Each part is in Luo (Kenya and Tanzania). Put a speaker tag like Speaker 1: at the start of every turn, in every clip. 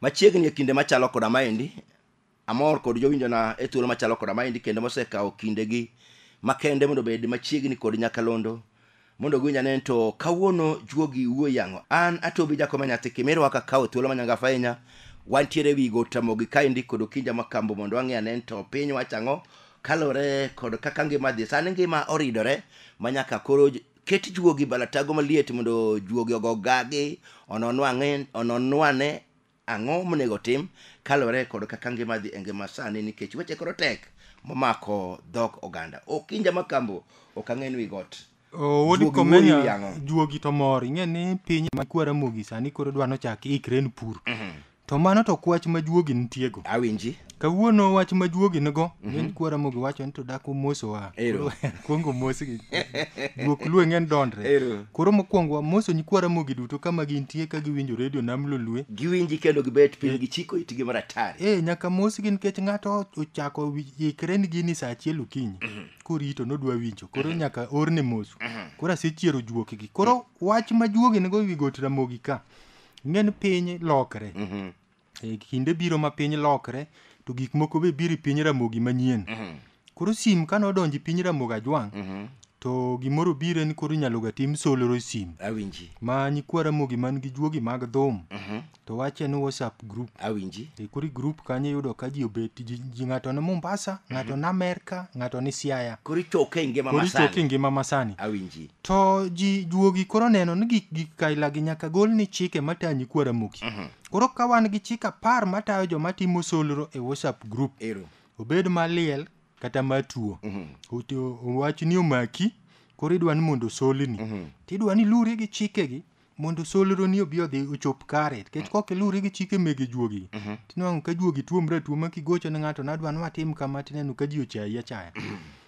Speaker 1: machiegni e kinde machalo koda maendi amor kod jowinjona e thuolo machalo koda maendi kendo mosekawo kindegi makende mondo obed machiegni kod nyakalondo mondo giwinja nen to kawuono juogi wuoyi ang'o an atobi jakoma nyathi kimiro waka kawo thuolo manyangafa ahinya wantiere wi got tamogi kaendi kod okinja makambo mondo wang'e anen to piny wacho ang'o kalore kod kaka ngima dhi sani ngima oridore manyaka koro j- ket juogi balatago maliet mondo juogi ogogagi ononwang'e- ononwane Ang'o monego otim kaluwore kod kaka ngima dhi e ngima sani nikech weche koro tek momako dhok oganda. Okinja Makambo ok ang'e ni wi got. Owodi Juogi komenya
Speaker 2: wuoyi yang'o. juogi to mor ing'e ni piny ma kwara mogi sani koro dwa nochak ikre ni pur. To mano to kwach ma juogi nitiego. Awinji. kawuono
Speaker 1: wach ma
Speaker 2: juogi nigo mhm. ng'eny kwara mogi wacho ni to dak omosowa kwongo omosgi guok lue ng'eny dondre koro mokwongo wamoso nyikwara mogi duto kama gintie ka giwinjo redio nam lolue giwinji kendo gibet
Speaker 1: piny eh. gichiko itgi maratari e eh, nyaka mosgi nikech
Speaker 2: ng'ato ochako ikre ni gini sa achiel okinyi mhm. korito nodwa winjo koro mhm. nyaka orne moso koro asechiero juokgi koro wach ma juogi nigo wi got ramogi ka ng'eny piny lokre E, kinde biro ma piny lokre to gik moko be biro e piny ramogi manyien koro sim kane odonjo e piny ramogi ajwang' to gimoro biro en koro inyalo ga tim solro e sim awinji ma
Speaker 1: nyikwa ramogi
Speaker 2: man gi juogi mag dhum to wach en whatsapp group awinji E, koro i
Speaker 1: group kanyo
Speaker 2: iyudo ka ji obet ji, ji ng'ato ni mombasa ng'ato ni amerka ng'ato ni siaya koro ichoke e ngima koro
Speaker 1: ichoke e masani ngima masani awinji to
Speaker 2: ji juogi koro neno ni gik gik kailagi nyaka gol ni chike matayo nyikwa ramogi Koro ka wan gi chik apar matayo joma timo solro e WhatsApp group, Ero. obed maliel kata matuo, Ote- owach ni omaki, koro idwa ni mondo osolni, tidwa ni iluri gi chikegi mondo solroni obi odhi ochop kare, nikech kok iluri gi chike mege juogi, tinwang'o ka juogi tuomre atuoma kigocho ne ng'ato nadwa ni watim kama tineno ka ji ochayi achaya.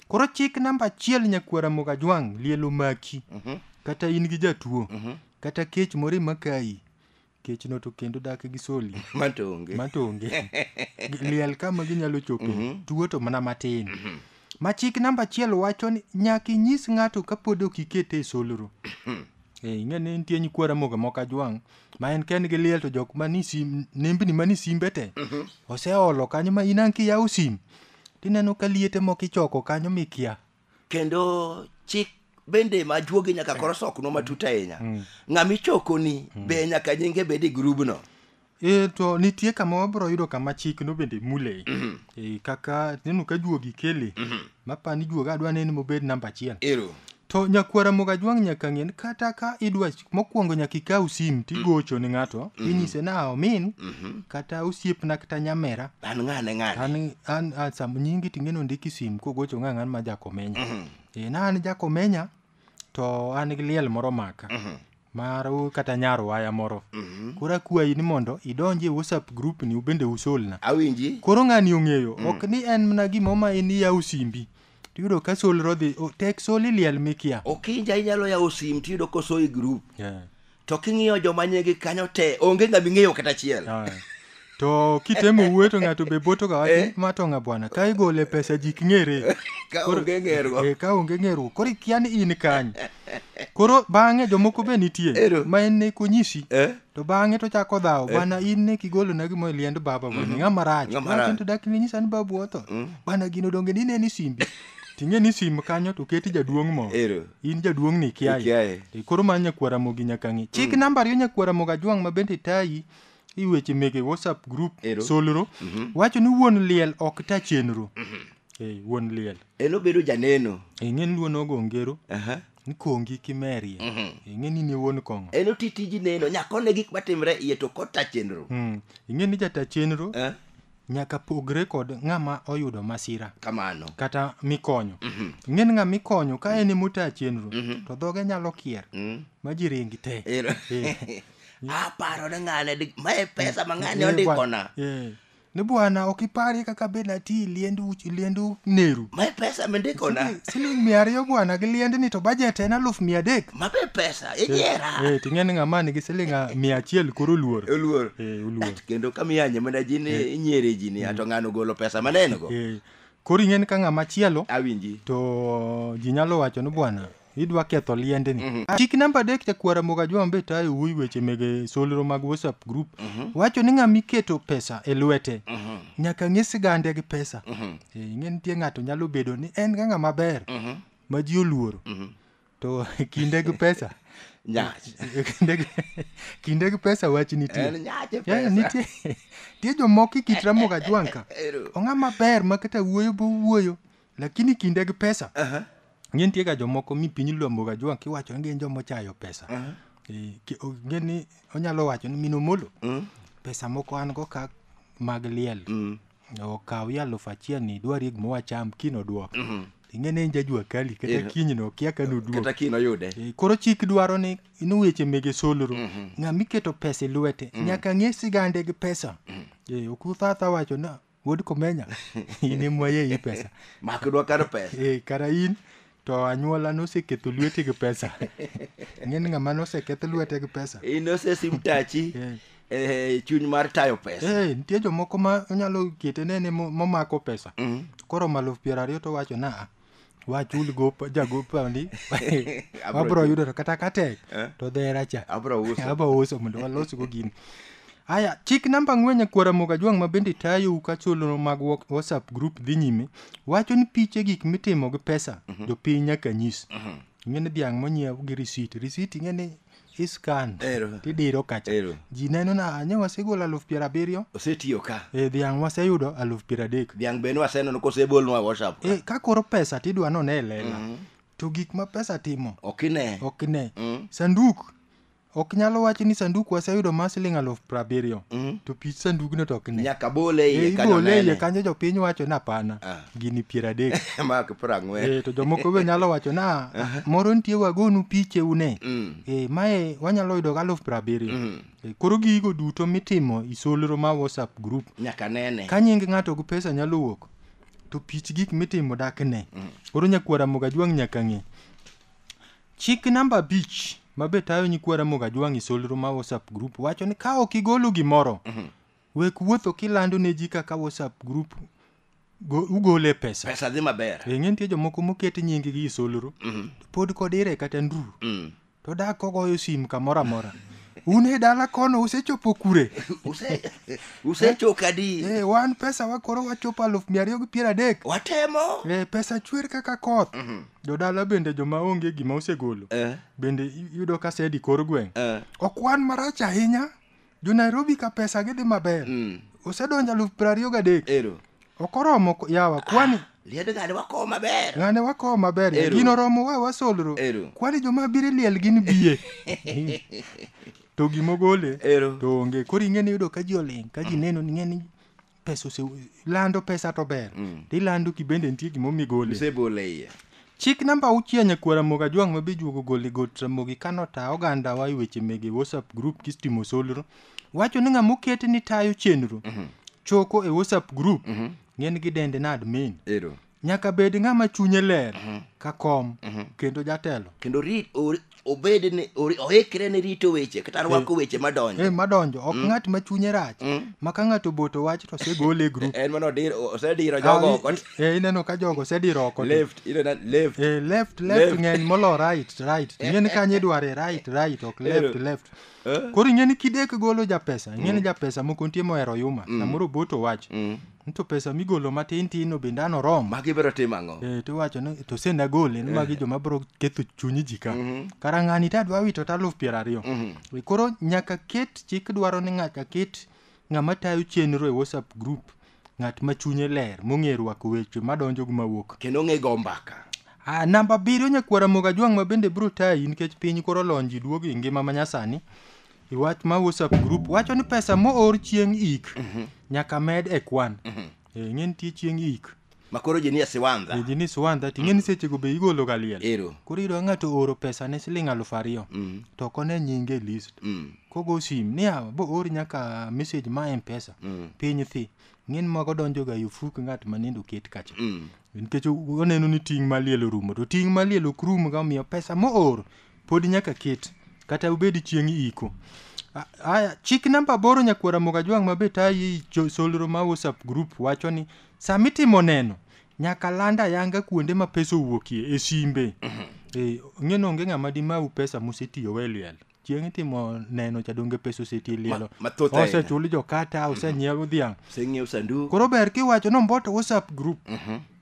Speaker 2: Koro chik namba achiel nyakwara Mogajwang' liel omaki, kata in gi jatuo, kata kech moro emakayi, kechno to kendo dak gi soli matonge matonge liel kama ginyalo chope tuo to mana matin ma chik namba achiel wacho ni nyaka inyis ng'ato kapod ok ikete e solro Eh, ing'e ni nitie nyikwa ramoga moko ajwang' ma en ken gi liel to jok mani sim nembni mani simbe te oseolo kanyo ma inan kiyawo sim tineno ka liete moko ichoko kanyo mikia kendo
Speaker 1: chik bende ma juogi nyaka koro sokno matut ahinya mm. ng'ama ichokoni mm. be nyaka nyinge bed e grubno E, to
Speaker 2: nitie kama wabro yudo kama chik no bende mule mm -hmm. e, kaka neno ka juogi kele mm -hmm. mapa ni juoga adwa neno mobed namba achiel Ero. to nyakwara moga jwang' nyaka ng'en kata ka idwa mokwongo nyaka ikaw sim Mm. tigocho ni ng'ato Mm-hmm. inyise ni "Ah, omin kata osiepna kata nyamera an ng'ane ng'ane an
Speaker 1: an an- sam
Speaker 2: nyingi ting'eni ondiki sim kogocho ng'a ng'an ma jakomenya Mm-hmm. e na an jakomenya to an gi liel moro maka Mm-hmm. mar u- kata nyar waya moro koro akwayi ni mondo idonj e whatsapp group ni ubende usolna awinji koro ng'ani
Speaker 1: ong'eyo
Speaker 2: ok ni en mana gimoma en iyaw simbi tiyudo ka solro dhi o- tek soli liel mikia okinja inyalo yawo
Speaker 1: sim tiyudo koso e grup Yeah. to king'iyo joma nyegi kanyo te onge ng'ama ing'eyo kata achiel Ah. to
Speaker 2: kitemo wuoyo to ng'ato be boto ga wacho ma to ng'a bwana ka igole pesa jik ng'ere ka Koro- onge
Speaker 1: ng'ergo Eh, ka onge ng'eruok koro
Speaker 2: ikia ni in kany koro bang'e jomoko be nitie Ero. ma en ne konyisi Eh? to bang'e to chako dhawo bana in ne kigolo na gimo e liend baba bana ng'a marach Ng'a marach. Lakini to dak ne nyisa ni babu otho bana gino donge ni ne ni simbi ting'e ni sim kanyo to keti jaduong' mo Ero. in jaduong' ni Ikiaye. kiaye E, koro ma nyakwara mogi nyaka ng'i chik namba ariyo nyakwara moga jwang' ma bende tayi i weche mege whatsapp group Ero. solro wacho ni wuon liel ok ta chenro Eh, wuon liel en obedo janeno
Speaker 1: ing'e ni luon ogo
Speaker 2: ngero Aha. nkongi kimerie Mhm. ing'e ni ne wuon kong'o en oti tiji neno
Speaker 1: nyakone gik matimre iye to kota chenro Mm. ing'e ni jata
Speaker 2: chenro Eh, nyaka pogre kod ng'ama oyudo masira kamano kata
Speaker 1: mikonyo
Speaker 2: Mhm. ing'e ni ng'ama ikonyo ka en emota chenro Mhm. to dhoge nyalo kier Mm. ma ji ringi te Ero- Eh. aparo
Speaker 1: ne ng'ane di- ma e pesa ma ng'ane Eh, ondikona bwana. Eh. ni
Speaker 2: bwana ok iparie kaka be nati liend uch- liend neru mae pesa mindikona
Speaker 1: Siling- siling mia ariyo
Speaker 2: bwana gi liendni to bajet en aluf mia adek mabe pesa
Speaker 1: inyiera Eh, ting'e ni ng'ama nigi
Speaker 2: siling ah, mia achiel koro oluor oluor Eh, oluor
Speaker 1: Et kendo kamiyanye mana ji ni inyiere ji ni ato ng'ano golo pesa maneno go Eh,
Speaker 2: koro ing'e ni ka
Speaker 1: ng'ama
Speaker 2: chielo awinji
Speaker 1: to
Speaker 2: ji
Speaker 1: nyalo
Speaker 2: wacho ni bwana idwa ketho liendni mm -hmm. chik namba adek chakwara mogajwa mbe tayo wuoyi weche mege solro mag whatsapp group mm -hmm. wacho ni ng'ama iketo pesa e lwete mm -hmm. nyaka ng'e sigande gi pesa mm -hmm. e, ing'e nitie ng'ato nyalo bedo ni en ga ng'ama ber mm -hmm. ma ji oluoro mm -hmm. to kinde gi pesa kinde gi pesa wach nitie nitie jomoko ikitra mogajwanka ong'a maber ma kata wuoyo bo wuoyo lakini kinde gi pesa Aha. ng'e nitie ga jomoko mi piny luambo ga juang' kiwacho ni gin joma ochayo pesa Eh, ki- o- ng'e ni onyalo wacho ni min omolo pesa moko an go ka mag liel okawi alufu achiel ni idwari gima wacham kino duok ing'e ni en jajua kali kata Yeah. kiny no kia ka noduok kata kiny oyude Eh,
Speaker 1: koro chik dwaro
Speaker 2: ni ni weche mege solro ng'ama iketo pesa e lwete nyaka ng'e sigande gi pesa Eh, ok uthatha wacho na wuod komenya in emwaye i pesa makidwa kar pesa
Speaker 1: e, kara in
Speaker 2: to anyuola noseketho lwete gi pesa ng'eni ng'ama noseketh lwete gi pesa in osesim tachi
Speaker 1: e, chuny mar tayo pesa e, nitie jomoko ma
Speaker 2: onyalo kete nene momako pesa mm. koro maluf piero ariyo to wacho naa wachul gop jagopani wabro yudo to kata katek eh? to dhera cha abro uso mondo walosgo gini aya chik namba ang'wen e kwara moga jwang' ma bende tayou ka chulno mag whatsapp group dhi nyime wacho ni piche gik mitimo gi pesa mhm. jopiny nyaka nyis mhm. ing'e ni dhiang' monyiew gi risit risit ing'e ni iskan Ero. tidiro kacha Ero. ji neno na nye wasegolo aluf piero abiriyo osetiyo ka e
Speaker 1: dhiang' waseyudo
Speaker 2: aluf piero adek dhiang' bende waseneno
Speaker 1: kosebolnwa whatsapp e ka koro pesa
Speaker 2: tidwa none e lela to gik ma pesa timo ok ine ok ne Mm. sanduk ok nyalo wacho ni sanduk waseyudo ma siling aluf piero abiriyo Mm. to pich sandugno to ok ne nyaka bole E, iye kanyo
Speaker 1: ibole iye nene kanyo jopiny
Speaker 2: wacho ni apana Ah. gini piero adek mak piero ang'wen Eh,
Speaker 1: to jomoko be nyalo
Speaker 2: wacho na moro nitie wagonu piche une Mm. Eh, mae wanyalo yudo gi aluf piero abiriyo Mm. Eh, koro gigo duto mitimo isolro ma whatsapp group nyaka nene ka nying
Speaker 1: ng'ato gi pesa
Speaker 2: nyalo wuok to pich gik mitimo dak ne koro nyakwara mogajwang' nyaka ng'e chik namba abich ma be tayo nyikwara mogajwang' isolro ma whatsapp group wacho ni ka ok igolo gimoro wek wuotho kilando ne ji kaka whatsapp group go- ugole pesa pesa dhi maber e ng'e
Speaker 1: nitie jomoko moket
Speaker 2: nyingi gi isolro Mhm. pod kod ire kata nduru Mm. to dak kogoyo sim kamoro amora un e dala kono usechopo kure Use-
Speaker 1: usechoka e, di wan pesa wakoro
Speaker 2: wachopo aluf mia ariyo gi piero adek watemo e,
Speaker 1: pesa chwer kaka
Speaker 2: koth jodala bende joma onge gima osegolo Eh, bende i- iyudo ka sedi kor gweng eh. ok wan marach ahinya jo nairobi ka pesa gidhi maber Mm. osedonjo aluf piero ariyo gadek Ero. ok oromo ko- yawa kwani Liend ng'ane wakowo
Speaker 1: maber. ng'ane wakowo maber
Speaker 2: Ero. gino romo wa wasolro Ero. kwani joma biro liel gin biye to gimogole Ero. to onge koro ing'e ni yudo ka ji oling ka ji neno ni ing'e ni pesa ose lando pesa to ber mm. to ilando ki bende nitie gima omigole isebole iye
Speaker 1: chik namba
Speaker 2: auchiel nyakuo ramogi ajwang' ma bijuogo gole got ramogi kano ta oganda wa e weche mege whatsapp group kistimo solro wacho ni ng'ama oket ni tayo chenro mm -hmm. choko e whatsapp group mm -hmm. ng'en gi dende na admin Ero. nyaka bed ng'ama chunye ler mhm. ka kom mhm. kendo jatelo kendo rit
Speaker 1: obed ni oikre ne rito weche kata eh. rwako weche madonjo eh, madonjo ok mm. ng'at
Speaker 2: ma chunye rach mm. ma ka ng'ato boto wach to osegole e grup en mano osediro
Speaker 1: jogo ah, oko eh, ineno ka jogo
Speaker 2: osediro oko left left
Speaker 1: left
Speaker 2: left ng'eny molo right right ing'eni kanye idware right right ok left left koro ing'eni kidek golo japesa ing'eni mm. japesa moko nitie mohero yuma mm. samoro boto wach Ni To pesa migolo matin tin no bende an oromo. magi biro timo ang'o Eh,
Speaker 1: to iwacho ni to sen
Speaker 2: agole ni magi joma biro ketho chuny ji ka kara ng'ani to adwa wito to aluf piero ariyo Eh, koro nyaka ket chik dwaro ni nyaka ket ng'ama tayo chenro e whatsapp group ng'at ma chunye ler mong'e rwako weche madonjo gi mawuok kendo ng'e go mbaka
Speaker 1: Ah, namba abiriyo
Speaker 2: nyakwara moga jwang' ma bende biro tayi nikech piny koro lony ji duogo e ngima ma nyasani I wach ma WhatsApp group wacho ni pesa moor chieng' ik nyaka med e kwan. Eh, Ing'e nitie chieng' ik. makoro ji nie
Speaker 1: siwandha Eji ni Suwanda ting'e ni
Speaker 2: sechego be igolo ga liel. Ero. Koro iyudo ka ng'ato ooro pesa ne siling' aluf ariyo to ok one nyinge e list. Mm. Kogo sim ni yawa bo or nyaka message ma M-Pesa. Piny thi. Ng'en mago donjo ga yufuk ng'at ma nende oket kacha. Mm. Nikech oneno ni ting' ma liel orumo to ting' ma liel ok rum ga omiyo pesa moor pod nyaka ket kata ubed chieng' iko A- aya chik namba aboro nyakwara mogajwang' mabe tayi jo- solro ma whatsapp group wacho ni sama itimo neno nyaka land ayanga kuonde ma pesa owuokie e simbe Eh, ng'eno onge ng'ama dimau pesa musetiyogo e liel chieng' itimo neno cha donge pesa oseti e lielo mathoth ahinya. osechul jokata osenyiew dhiang' oseng'iew sanduku koro
Speaker 1: ber kiwacho
Speaker 2: nomboto whatsapp group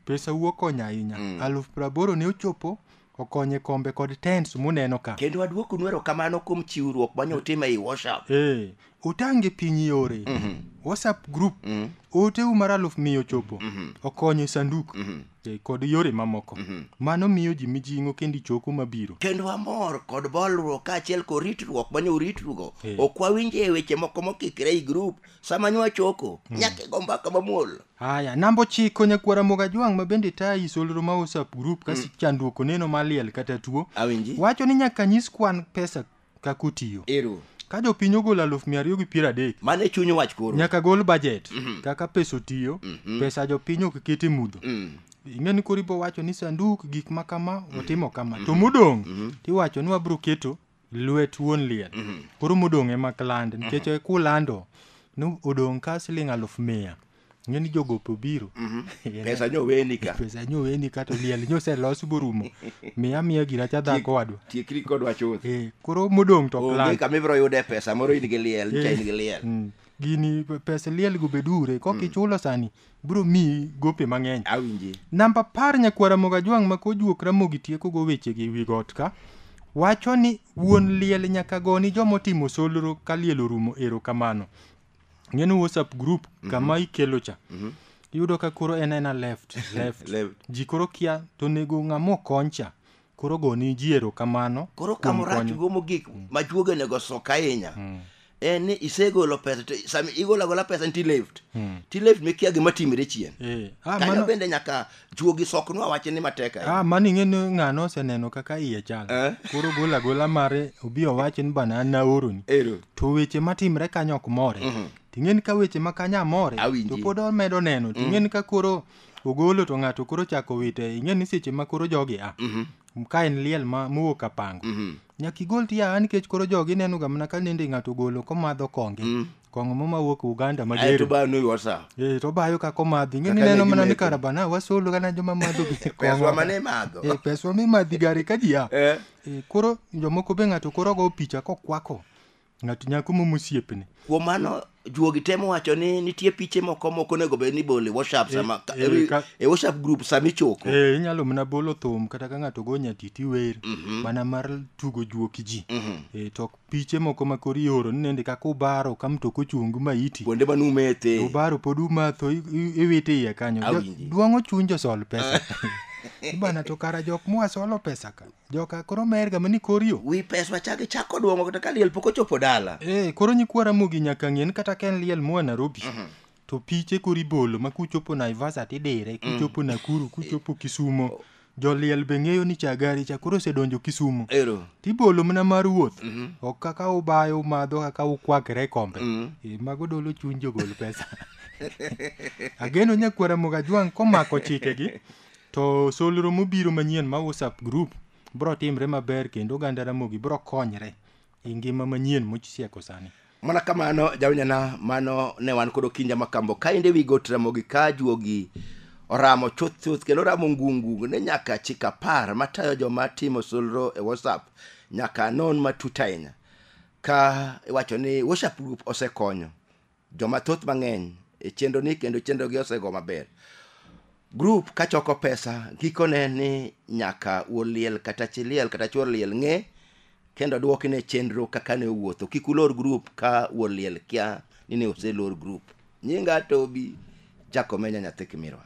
Speaker 2: pesa wuok konyo ahinya aluf praboro ne ochopo okonye kombe kod tents muneno ka kendo aduoku nwero kamano
Speaker 1: kuom chiwruok manya utim ei whatsapp eh, utange
Speaker 2: piny yore mm -hmm. whatsapp group mm -hmm. oteu mar aluf miyo chopo mm -hmm. okonyo sanduk mm -hmm. eh, kod yore mamoko mm -hmm. mano miyo ji mijing'o kendo ichoko mabiro kendo amor kod
Speaker 1: bolruok kaachiel kod ritruok manya uritrugo eh. ok wawinje e weche moko mokikre i group sama nywa choko mm. nyaka igo mbaka mamuol Aya, namba ochiko
Speaker 2: nyakwar Ramogi Ajwang' ma bende tayi solro ma WhatsApp group ka chandruok oneno maliel kata tuo. Awinji. Wacho ni nyaka
Speaker 1: nyis
Speaker 2: kwan pesa kaka otiyo. Ero. Ka jopiny ogolo aluf mia ariyo gi piero adek, Mano e chuny wach
Speaker 1: koro. nyaka gol budget
Speaker 2: kaka pesa otiyo, pesa jopiny ok ket e mudho. Ing'e ni koro ibo wacho ni sanduk gik ma kama otimo kama. To modong' tiwacho ni wabro keto lwet wuon liel mhm. koro modong' ema kland mhm. nikech mm -hmm. kulando ni odong' ka siling aluf mia ng'e ni jogope obiro mhm. pesa nyo
Speaker 1: weni ka pesa nyo weni ka to
Speaker 2: liel nyo oselos borumo miya miya gina cha dhako wadwa tiekri kodwa chuth
Speaker 1: eh, koro modong' to
Speaker 2: kland onge kama ibiro yude pesa
Speaker 1: moro in gi liel cha in gi eh, liel mm. gini
Speaker 2: pesa liel go bedure kok mm. ichulo sani bro miyi gope mang'eny awinji namba
Speaker 1: par nyakwar
Speaker 2: ramogi ajwang' ma kojuok ramogi tiekogo wechegi wi got ka wacho ni wuon liel nyaka goni joma otimo solro ka liel orumo erokamano ng'eno whatsapp group kama ikelo cha iyudo ka koro en ena left left Left. ji koro kia to onego ng'ama okony cha koro goni ji erokamano koro kuom kama orach konyo. go
Speaker 1: mogik ma chuoga onego sok ahinya en ni isegolo pesa to sama igolo agola pesa ni tileft tileft mikia gima timre chien Eh, ah, kanyo mano- bende nyaka chuogi soknwa wache ni matek ahinya ah, mano ing'e ni ng'ano
Speaker 2: oseneno kaka iye chal Eh. koro gol agola mare obi owache ni bana an naoroni ero to weche matimre kanyo ok more ting'e ni ka weche ma kanyo amore Awinji. to pod omedo neno ting'e ni ka koro ogolo to ng'ato koro chako wite ing'e ni seche ma koro jogi a ka en liel ma mowuok apango nyaka igol ti a nikech koro jogi ineno ga mana ka nende ng'ato ogolo komadho konge kong'o mo mawuok Uganda Aeto mager ba no wasa.
Speaker 1: Eh, to bayo ka
Speaker 2: komadhi ing'e ni Kaka neno ne mana ni gimetho. karabana wasolo gana joma madho gi Peswa kong'o. mane
Speaker 1: madho. Eh, peswa mimadhi
Speaker 2: gari ka ji a Eh. Eh, koro jomoko be ng'ato koro go picha kokwako ng'ato nyako momo osiepne kuom mano
Speaker 1: juogi temo wacho ni nitie piche moko moko onego bed ni bole whatsapp sama e, e, ka, e whatsapp group sama ichoko e, inyalo mana bolo
Speaker 2: thum kata ka ng'ato go nyatiti wer mm -hmm. mana mar tugo juoki ji mm -hmm. e, to piche moko ma kori ioro ni nende kaka ubaro ka mtoko chung ma iti kuonde ma numete
Speaker 1: ubaro pod umatho
Speaker 2: iwite iye kanyo dwang'o chuny josol pesa bana to kara jok mwasolo pesa ka Joka koro mer ga mani kor yo. Wi pes wachage
Speaker 1: chako duongo kata ka liel pok ochopo dala. Eh, koro nyikwa Ramogi
Speaker 2: nyaka ng'en kata ka en liel moa Nairobi. Mhm. To piche koro ibolo ma kuchopo Naivasha tidire, mm. kuchopo Nakuru, kuchopo Kisumo. Joliel be ng'eyo ni Chagari cha koro osedonjo Kisumo. Ero. Tibolo mana mar wuoth. Mhm. Ok kaka ubayo umadho kaka ukwakre e kombe. Mhm. Eh, mago dolo chuny jogol pesa. Ageno nyakwara Mogajwang' komako chikegi. To solro mobiro manyien ma WhatsApp group bro timre maber kendo oganda Ramogi bro konyre e ngima manyien mochisieko sani. mana kamano
Speaker 1: jawinjana mano ne wan kod okinja makambo kaende wi got ramogi ka juogi oramo chuth chuth kendo oramo ngungu ne nyaka chik apar matayo joma timo solro e whatsapp nyaka non matut ahinya ka iwacho ni whatsapp group osekonyo joma thoth mang'eny e chenro ni kendo chenro gi osego maber grup ka choko pesa gikone ni nyaka wuon liel kata chi liel kata chuor liel ng'e kendo dwoki ne chenro kaka ne owuotho kik ulor grup ka wuon liel kia ni ne oselor grup nyinga tobi jakomenya nyathi kimirwa